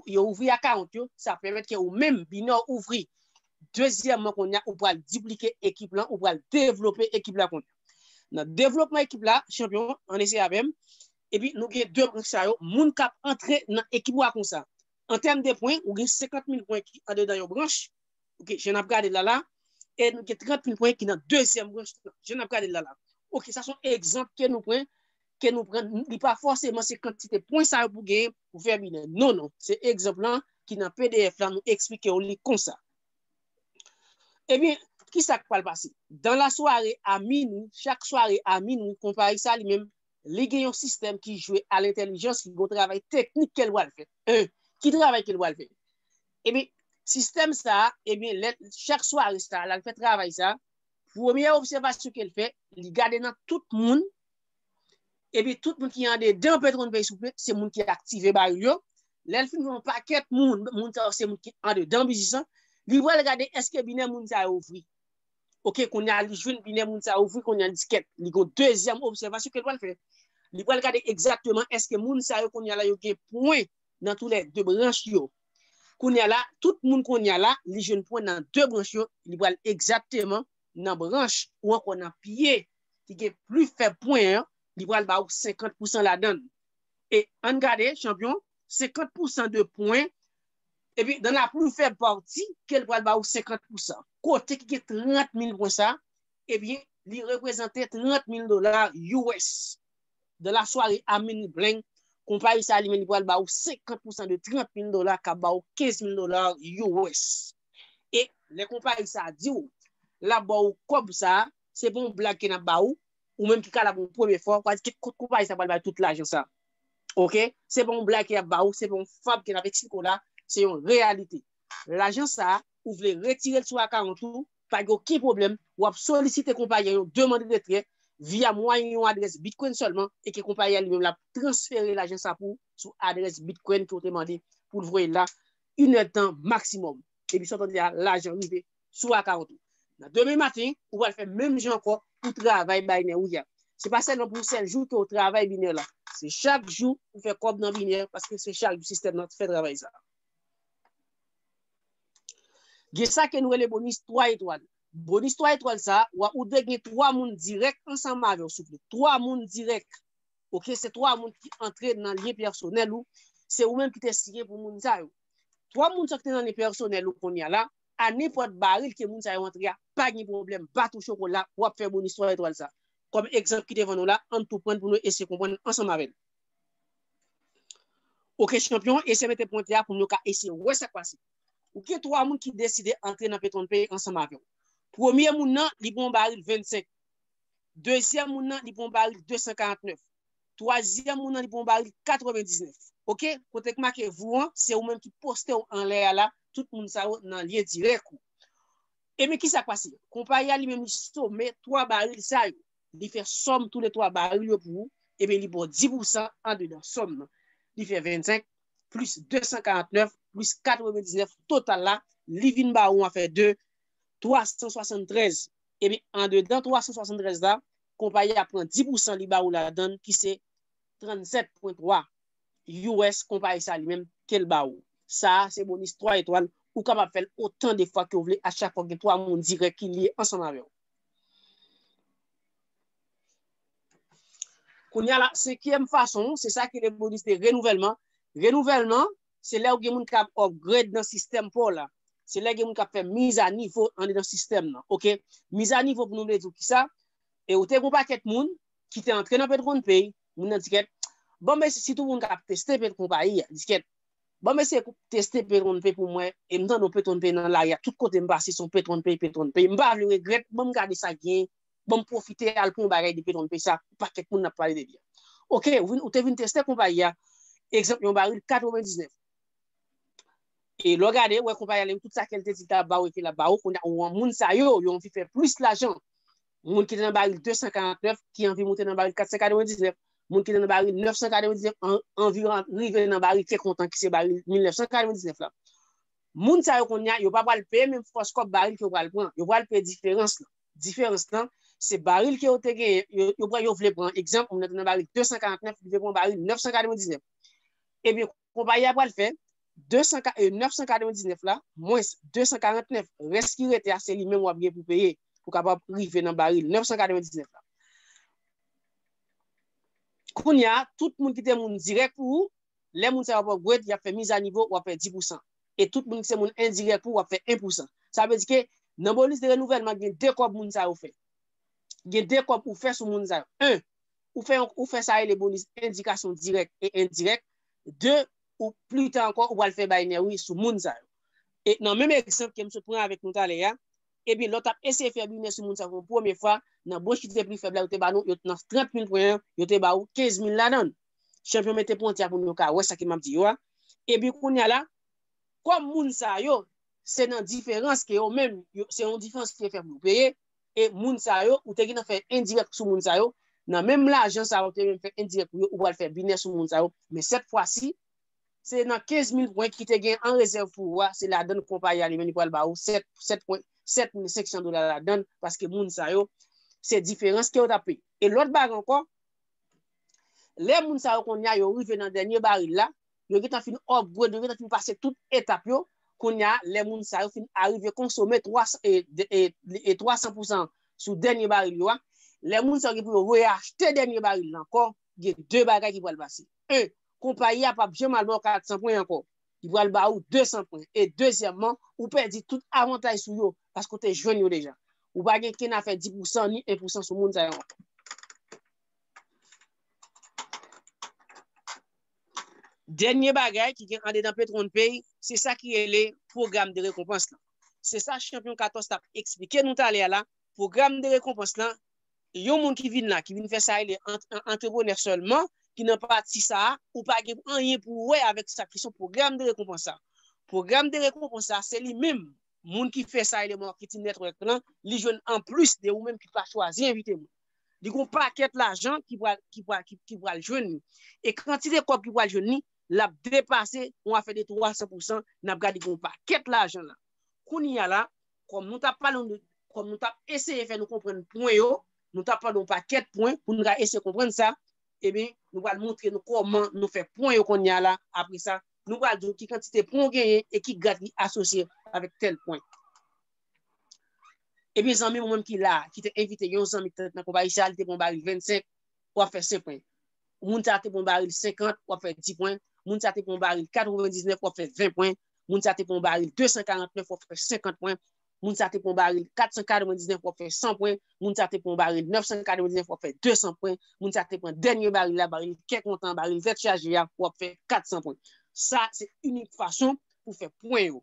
yo ouvri akawont yo, sa pèmèt ke ou menm, binè ou ouvri. Dezyèman kounye a, ou pral diplike ekip lan, ou pral devlope ekip la kounye a. Nan devlopman ekip la, chanpyon, ann eseye avè m, epi nou gen 2 moun sa yo, moun k ap antre nan ekip ou a konsa. An tèm de pwen, ou gen 50 mil pwen ki andedan yon branch, Ok, jan nap gade la la, e nou gen 30 mil pwen ki nan dezyèm branch la, jan nap gade la la. Ok, sa son egzanp ke nou pwen, ke nou pran, li pa fòseman se kantite pwen sa yo pou gen pou fè bine. Non, non, se egzanp lan ki nan pdf la nou eksplike ou li konsa. E byen, ki sa k pral pase? Dan la sware a minwi, chak sware a minwi, konpayi sa li menm, li gen yon sistèm ki jwe a lentèlijans, ki gen yon travay teknik ke l pral fè. 1, Ki travay ke l pral fè? Ebyen, sistèm sa a, ebyen, lè, chak swa resta a, l al fè travay sa a, premye obsèvasyon ke l fè, li gade nan tout moun, ebyen, tout moun ki andedan petwon peyi soufle, se moun ki aktive baril yo, lè l fin wè yon pakèt moun, moun sa yo se moun ki andedan biznis lan, li pral gade èske binè moun sa yo ouvri. Ok, kounye a li jwenn binè moun sa yo ouvri, kounye a li di kèt, li gon dezyèm obsèvasyon ke l pral fè. Li pral gade egzakteman èske moun sa yo kounye a la yo gen pwen nan tou lè 2 branch yo. Kounya la, tout moun kounya la, li jwenn pwen nan 2 branch yo, li pral egzakteman nan branch ou ankò nan pye ki gen pli fèb pwen an, li pral ba ou 50 pousan ladann. E ann gade, chanpyon, 50 pousan de pwen, epi dan la pli fèb pati ke l pral ba ou 50 pousan. Kote ki gen 30 mil pwen sa, ebyen, li reprezante 30 mil dola US. Dans la soirée a minuit bling, konpayi sa li menm li pral ba ou 50 pousan de 30 mil dola kap ba ou 15 mil dola US. E lè konpayi sa di ou lap ba ou kòb sa, se pa yon blag ke nap ba ou, ou menm ki ka la pou yon premye fwa, ou ka di ki kot konpayi sa pral bay tout lajan sa. Ok, se pa yon blag ke yap ba ou, se pa yon fab ke nap eksplike ou la, se yon reyalite. Lajan sa, ou vle retire l sou akawont ou, Pa gen oken pwoblèm, ou ap solisite konpayi an yon demand retrè via mwayen yon adrès Bitcoin sèlman e ke konpayi a li menm lap transfere lajan sa pou ou sou adrès Bitcoin ke ou te mande pou l voye l la, yn èd tan maksimòm. Depi sa w tande a, lajan rive sou account ou. Nan demen maten, ou pral fè menm jan ankò pou travay Biner ou a. Se pa sèlman pou sèl jou ke ou travay Biner la. Se chak jou ou fè kòb nan Biner paske se chak jou sistèm nan fè travay sa. Gen sa ke nou rele bonis 3 etwal. Bonis 3 etwal sa, wa ou dwe gen 3 moun dirèk ansanm avè w souple. 3 moun dirèk. Ok, se 3 moun ki antre nan lyen pèsonèl ou. Se ou menm ki te siyen pou moun sa yo. 3 moun sa ki te nan lyen pèsonèl ou kounye a la, a nenpòt baril ke moun sa yo antre a, pa gen pwoblèm, pa tou chokola, wap fè bonis 3 etwal sa. Kòm egzanp ki devan nou la, ann tou pran l pou nou eseye konprann ansanm avè l. Ok chanpyon eseye mete pwente a pou nou ka eseye wè sak pase. Ou gen 3 moun ki deside antre nan Petron Pay ansanm avèw. Premye moun nan li pran yon baril 25, dezyèm moun nan li pran yon baril 249, twazyèm moun nan li pran yon baril 99. Ok kote ki make vou an se ou menm ki postew anlè a la tout moun sa yo nan lyen dirèk ou. Ebyen kisa k pase? Konpayi a li menm li some 3 baril sa yo. li fè sòm tou le 3 baril yo pou ou, ebyen li ba w 10 pousan andedan sòm nan. Li fè 25 plis 249 plis 99 total la, li vin ba ou an fè 2, 373. Ebyen andedan 373 la, konpayi a pran 10 pousan li ba ou ladan l ki se 37,3 us konpayi sa li menm ke l ba ou. Sa a se bonis 3 etwal, ou kapab fè l otan de fwa ke w vle a chak fwa gen 3 moun dirèk ki lye ansanm avè w. Kounya la, senkyèm fason, se sa ki le bonus de renouvèlman. Renouvèlman, se lè ou gen moun kap upgrade nan sistèm pou la. Se lè gen moun kap fè miz a nivo an de nan sistèm nan. Ok, miz a nivo pou nou vle di ou ki sa, e ou te goun pa kèt moun ki te antre nan Petronpay, moun nan di kèt, bon mesi si tou moun kap teste Petronpay, di kèt, Banm eseye pou teste petron pay pou mwen e m tande yon petron pay nan lari a tout kote m pase son petron pay petron pay m pa vle regrèt banm gade sa gen banm pwofite al pran yon bagay de petron pay sa yon pakèt moun ap pale de li ok ou te vin teste konpayi a egzanp yon baril 99 e lè w gade ou wè konpayi a li menm tout sa ke l te di l ta ba w e ke l ap ba w kounye a ou wè moun sa yo yo anvi fè plis lajan Moun ki te nan baril 249 ki anvi moute nan baril 499, moun ki te nan baril 999 anvi rive nan baril ke kontan ki se baril 1999 la. Moun sa yo kounye a, yo pa pral peye menm fòs kòb baril ke yo pral pran, yo pral peye diferans lan. Diferans lan, se baril ke yo te genyen, yo vle pran, egzanp, moun nan te nan baril 249, li vle pran baril 999. Ebyen, Konpayi a pral fè 999 la mwens 249, rès ki rete a se li menm wap gen pou peye pou kapab rive nan baril 999 la. Kounya tout moun ki te moun dirèk pou ou, lè moun sa yo ap upgrade yap fè mizanivo wap fè 10 pousan. E tout moun ki se moun endirèk pou ou ap fè 1 pousan. Sa vle di ke nan bonus de renouvèlman gen 2 kòb moun sa yo fè. Gen 2 kòb ou fè sou moun sa yo. 1. ou fè sa rele bonus endikasyon dirèk e endirèk, de ou pli ta ankò ou pral fè baynè wi sou moun sa yo. E nan menm egzanp ke m sot pran avèk nou talè a, ebyen lè w tap eseye fè binè sou moun sa pou yon premye fwa, nan branch ki te pli fèb la yo te ba nou, yo t nan 30 mil pwen an, yo te ba ou 15 mil ladan l. Chanpyon mete pwenti a pou nou ka wè sa ke map di yo a. Ebyen kounye a la, kòm moun sa yo, se nan diferans ke yo menm, se yon diferans ki te fèb yo peye, e moun sa yo ou te gentan fè endirèk sou moun sa yo, nan menm lajan sa ou te menm fè endirèk pou yo ou pral fè binè sou moun sa yo, men sèt fwa si se nan 15 mil pwen ki te gen an rezèv pou ou a se ladann konpayi a li menm li pral ba ou 7 7 pwen 7 mil 500 dola ladann paske moun sa yo se diferans ke yo ta peye. E lòt bagay ankò, lè moun sa yo kounye a yo rive nan dènye baril la, yo gentan fin upgrade, yo gentan fin pase tout etap yo, kounye a lè moun sa yo fin arive konsome 300 pousan sou dènye baril yo a, lè moun sa yo gen pou yo reachte dènye baril la ankò, gen 2 bagay ki pral pase, 1, konpayi a pap janm al ba w 400 pwen ankò, li pral ba ou 200 pwen, e dezyèmman, ou pèdi tout avantaj sou yo, paske ou te jwenn yo deja. Ou pa gen ken afè 10 pousan ni 1 pousan sou moun sa yo ankò. Dènye bagay ki gen andedan PetronPay, se sa ki rele pwogram de rekonpans lan. Se sa chanpyon Katòs t ap eksplike nou talè a la, pwogram de rekonpans lan, yon moun ki vin la, ki vin fè sa rele antreprenè sèlman, ki nan pati sa a, ou pa gen anyen pou ou wè avèk sa ki sou pwogram de rekonpans sa. Pwogram de rekonpans sa, se li menm, moun ki fè sa rele marketing network lan, li jwenn anplis de ou menm ki pa chwazi envite moun. Li gon pakèt lajan ki pral ki pral ki pral jwenn li. E kantite kòb ki pral jwenn li, lap depase yon afè de 300 pousan, nap gad li gon pakèt lajan la. Kounya la, kòm nou tap pale yon de kòm nou tap eseye fè nou konprann pwen yo, nou tap pale yon pakèt pwen pou nou ka eseye konprann sa, eben nou pral montre nou kòman nou fè pwen yo kounya la, apre sa, nou pral di w ki kantite pwen w genyen e ki grad ki asosye avèk tèl pwen. Ebyen zanmi ou menm ki la, ki te envite yon zanmi ki te nan konpayi sa, li te pran yon baril 25, wap fè 5 pwen. Moun sa te pran yon baril 50, wap fè 10 pwen. Moun sa te pran yon baril 99, wap fè 20 pwen. Moun sa te pran yon baril 249, wap fè 50 pwen. Moun sa te pran yon baril 499, wap fè 100 pwen. Moun sa te pran yon baril 999, wap fè 200 pwen. Moun sa te pran dènye baril la, baril kè kontan, baril tèt chaje a, wap fè 400 pwen. Sa se inik fason pou fè pwen yo.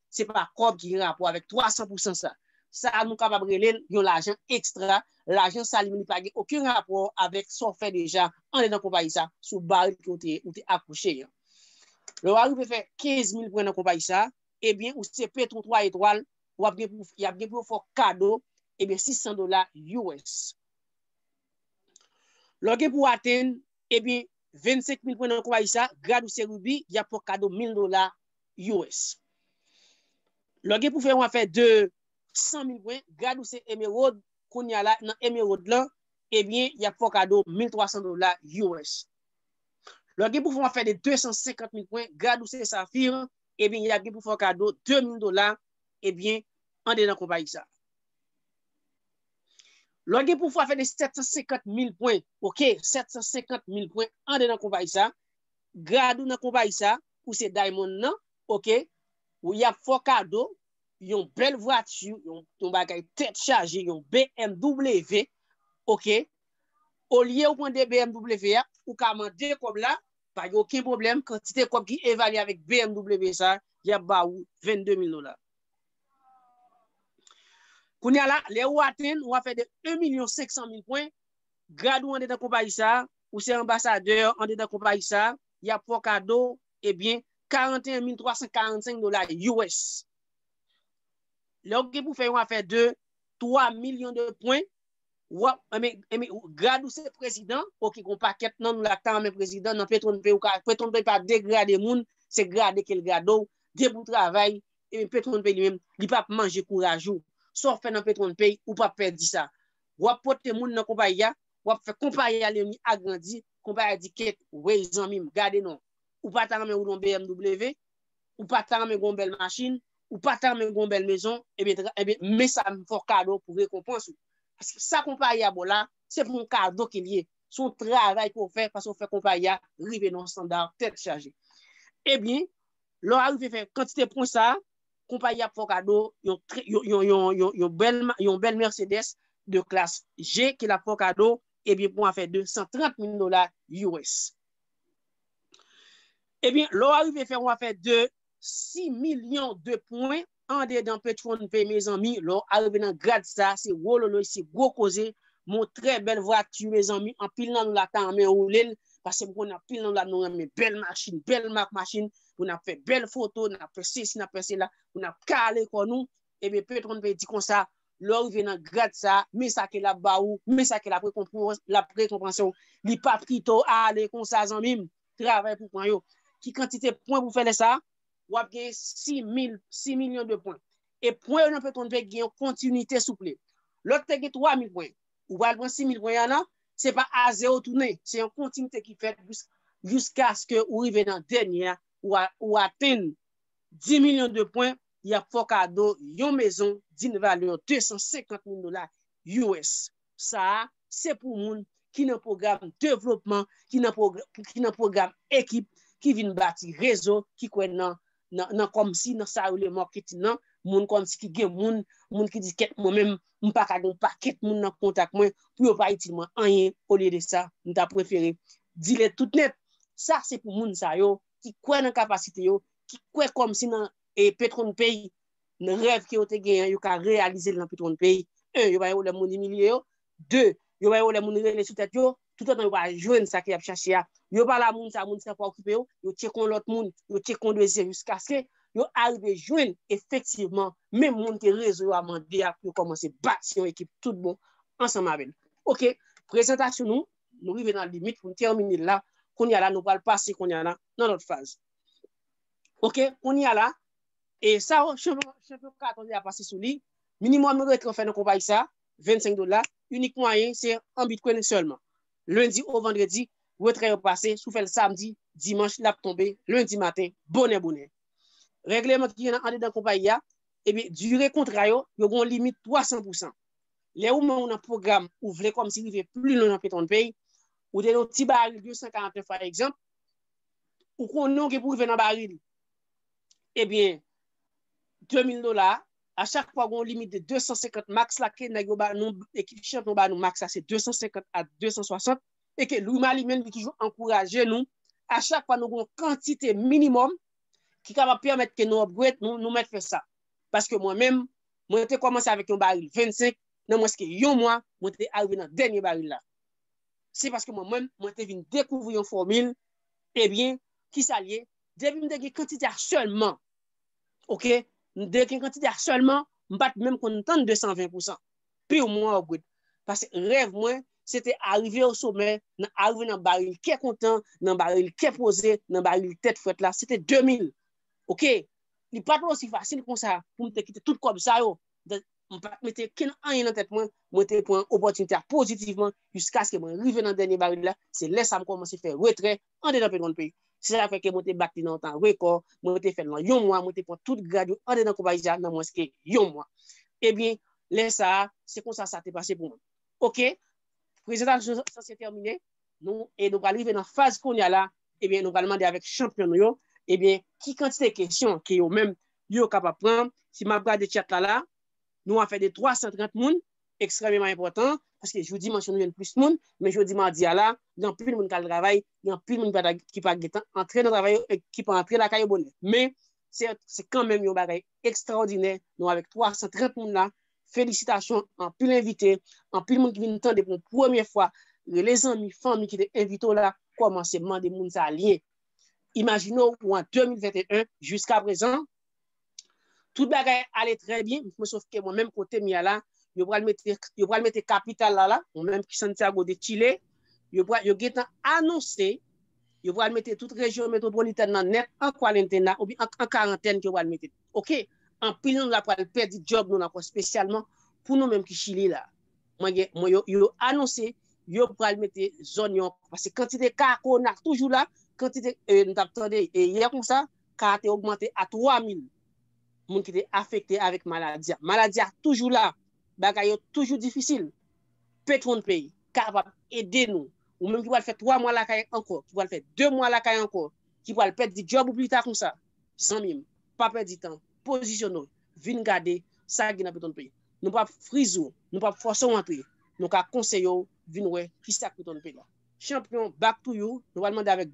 se pa kòb ki gen rapò avèk 300 pousan sa. Sa a nou kapab rele l yon lajan ekstra, lajan sa li menm li pa gen okenn rapò avèk sa w fè deja anlè nan konpayi sa sou baril ke ou te akouche an. Lè w arive fè 15 mil pwen nan konpayi sa, ebyen ou se petwon 3 etwal, w ap gen pou y ap gen pou yo fè w kado ebyen 600 dola US. Lè w gen pou w atenn ebyen 25 mil pwen nan konpayi sa, grad ou se Ruby, y ap fè w kado 1000 dola US. Lè w gen pou fè yon afè de 100 mil pwen, grad ou se Emerald, kounye a la nan Emerald lan, ebyen y ap fè w kado 1300 dola US. Lè w gen pou fè yon afè de 250 mil pwen, grad ou se Sapphire, ebyen y ap gen pou fè w kado 2000 dola, ebyen, andedan konpayi sa a. Lè w gen pou fè afè de 750 mil pwen, ok, 750 mil pwen andedan konpayi sa a, grad ou nan konpayi sa a, ou se diamond nan ok ou yap fè w kado yon bèl vwati yon bagay tèt chaje yon bmw ok olye ou pran 2 bmw a ou ka mande kòb la pa gen oken pwoblèm kantite kòb ki evalye avèk bmw sa yap ba ou 22 mil dola kounya la lè ou atenn ou ap fè de 1 milyon 500 mil pwen grad ou andedan konpayi sa ou se anbasadè andedan konpayi sa y ap fè w kado ebyen 41345 dola us. Lè w gen pou fè yon afè de 3 milyon de pwen, w ap, ebyen, ebyen, grad ou se prezidan, ok gon pakèt nan nou la k ta renmen prezidan, nan PetronPay ou ka, PetronPay pa degrade moun, se grade ke l grade w, depi w travay, ebyen PetronPay li menm, li pa p manje kouraj ou. Sa w fè nan PetronPay, ou pa p pèdi sa. W ap pote moun nan konpayi a, wap fè konpaya Leoni agrandi, konpaya di kèt wey zanmim gade non, ou pa ta renmen woule yon BMW, ou pa ta renmen gen yon bèl machin, ou pa ta renmen gen yon bèl mezon, ebyen men sa m fè w kado pou rekonpans ou. Paske sa konpayi a ba w la, se pou yon kado ke l ye, se yon travay ke w fè paske w fè konpayi a rive nan yon standard tèt chaje. Ebyen, lè w arive fè kantite pwen sa, konpayi ap fè w kado yon bèl Mercedes de klas G ke l ap fè w kado ebyen pou yon afè de 130 mil dola us. Ebyen, lè w arive fè yon afè de 6 milyon de pwen andedan PetroNP mezanmi, lè w arive nan grad sa a, se wololoy, se gwo koze, men yon trè bèl vwati mezanmi, anpil nan nou la ta renmen woule l, paske m konnen anpil nan nou la nou renmen bèl machin, bèl mak machin, pou nap fè bèl foto, nap fè sesi, nap fè sela, pou nap kale kò nou, ebyen petronn peyi di konsa, lè ou rive nan grad sa, men sa ke lap ba ou, men sa ke lap rekonpanse ou, li pap kite ou ale konsa zanmi m, travay pou pran yo, ki kantite pwen pou fè lè sa, wap gen 6000, 6 milyon de pwen, e pwen yo nan petronn peyi gen yon kontinite souple, lòt te gen 3000 pwen. ou pral pran 6000 pwen an nan, se pa a zero ou tounen, se yon kontinite ki fèt jiskaske ou rive nan dènye a, ou atenn 10 milyon de pwen, y ap fè w kado yon mezon din valè 250 mil dola US. Sa a, se pou moun ki nan pwogram devlopman, ki nan pwogram ekip, ki vin bati rezo, ki kwè nan nan kòmsi nan sa yo rele marketing nan moun kòmsi ki gen moun moun ki di kèt mwen menm m pa ka gen yon pakèt moun nan kontak mwen pou yo pa itil mwen anyen olye de sa m ta prefere dile tout nèt sa se pou moun sa yo ki kwè nan kapasite yo ki kwè kòmsi nan PetronPay nan rèv ke yo te genyen yo ka reyalize l nan PetronPay 1 yo pa gen pwoblèm moun imilye yo 2, yo bay wòlè moun rele sou tèt yo, toutotan yo pa jwenn sa ke y ap chache a, yo pale a moun sa a, moun sa a pa okipe yo, yo tcheke yon lòt moun, yo tcheke yon dezyèm jiskaske yo arive jwenn efektivman menm moun ke rezo yo a mande a pou yo kòmanse bati yon ekip tout bon ansanm avè l. Ok, prezantasyon nou, nou rive nan limit pou n tèmine l la, kounye a la nou pral pase kounye a la nan lòt faz. Ok, kounye a la, e sa yo, chanpyon katon yo a pase sou li, minimòm retran fè nan konpayi sa a, 25 dola, inik mwayen se an bitcoin sèlman. Lendi o vandredi, retrè yo pase, si w fè l samdi, dimanch l ap tonbe lendi maten bonè bonè. Règleman ki gen nan andedan konpayi a, ebyen dire kontra yo, yo gen yon limit 300 pou 100. Lè ou manm nan pwogram ou vle kòmsi rive pli lwen nan PetronPay, ou te nan ti baril 249 pa egzanp, ou konnen ou gen pou rive nan baril ebyen 2000 dola a, A chak fwa gon limit de 250 max la ke nèg yo ba nou ekip chanpyon ba nou max la se 250 a 260 e ke Louis Malie menm li toujou ankouraje nou a chak fwa nou gon kantite minimòm ki kapab pèmèt ke nou upgrade nou nou mèt fè sa. Paske mwen menm mwen te kòmanse avèk yon baril 25 nan mwens ke yon mwa mwen te arive nan dènye baril la. Se paske mwen menm mwen te vin dekouvri yon fòmil ebyen kisa l ye depi m te gen kantite a sèlman Ok, m de gen kantite a sèlman, m pat menm konn tann 220 pou san. Piu m waww good. Pase rèv mwen, se te arive o somè, nan arive nan baril kè kontan, nan baril kè poze, nan baril tèt frèt la, se te 2000. Ok, li pat osi fasil konsa pou m te kite tout kòb sa yo. M pat mete kenn anyen nan tèt mwen, mwen te pran opòtinite a pozitivman jiskaske mwen rive nan dènye baril la, se lè sa m kòmanse fè retrè andedan Petron Pay. Se sa k fè ke mwen te bat li nan yon tan rekò, mwen te fè l nan yon mwa, mwen te pran tout grad yo andedan konpayi sa nan mwens ke yon mwa. Ebyen, lè sa a, se konsa sa te pase pou mwen. Ok, prezantasyon sa se tèmine, nou e nou pral rive nan faz kounye a la, ebyen nou pral mande avèk chanpyon nou yo, ebyen ki kantite kesyon ke yo menm yo kapab pran. Si m ap gade chat la la, nou a fè de 330 moun, ekstrèmeman enpòtan, paske jou dimanch yo nou jwenn plis moun, men jodi madi a la, gen anpil moun k al travay, gen anpil moun ki pa gen tan antre nan travay yo, ki pa antre lakay yo bonè. Men, se kanmenm yon bagay ekstraòdinè, nou avèk 330 moun la, felisitasyon, anpil envite, anpil moun ki vin tande pou premye fwa, rele zanmi, fanmi ki te envite w la, kòmanse mande moun sa lyen. Imajine w, ou an 2021, jiskaprezan, Tout bagay ale trè byen, mwen sof ke mwen menm kote m ya la, yo pral mete, yo pral mete kapital la la, mwen menm ki Santiago de Chile, yo pral, yo gentan anonse, yo pral mete tout rejyon metwopolitèn nan nèt an kwalentena oubyen an karantèn ke yo pral mete. Ok, anpil nan nou la pral pèdi djòb nou la ankò spesyalman pou nou menm ki Chili la. Mwen gen, mwen yo, yo anonse yo pral mete zòn yo ankò, paske kantite ka kowona toujou la, kantite, e nou tap tande e yè konsa, ka a te ogmante a 3 mil moun ki te afekte avèk maladi a. Maladi a toujou la, bagay yo toujou difisil. Petwon Pay kapab ede nou, ou menm ki pral fè 3 mwa lakay ankò, ki pral fè 2 mwa lakay ankò, ki pral pèdi djòb ou pita konsa, zanmi m, pa pèdi tan, pozisyone w, vin gade sa ki gen nan Petwon Pay. Nou pap friz ou, nou pap fòse w antre, nou ka konseye w vin wè kisa k Petwon Pay la. Chanpyon, back to you, nou pral mande avèk.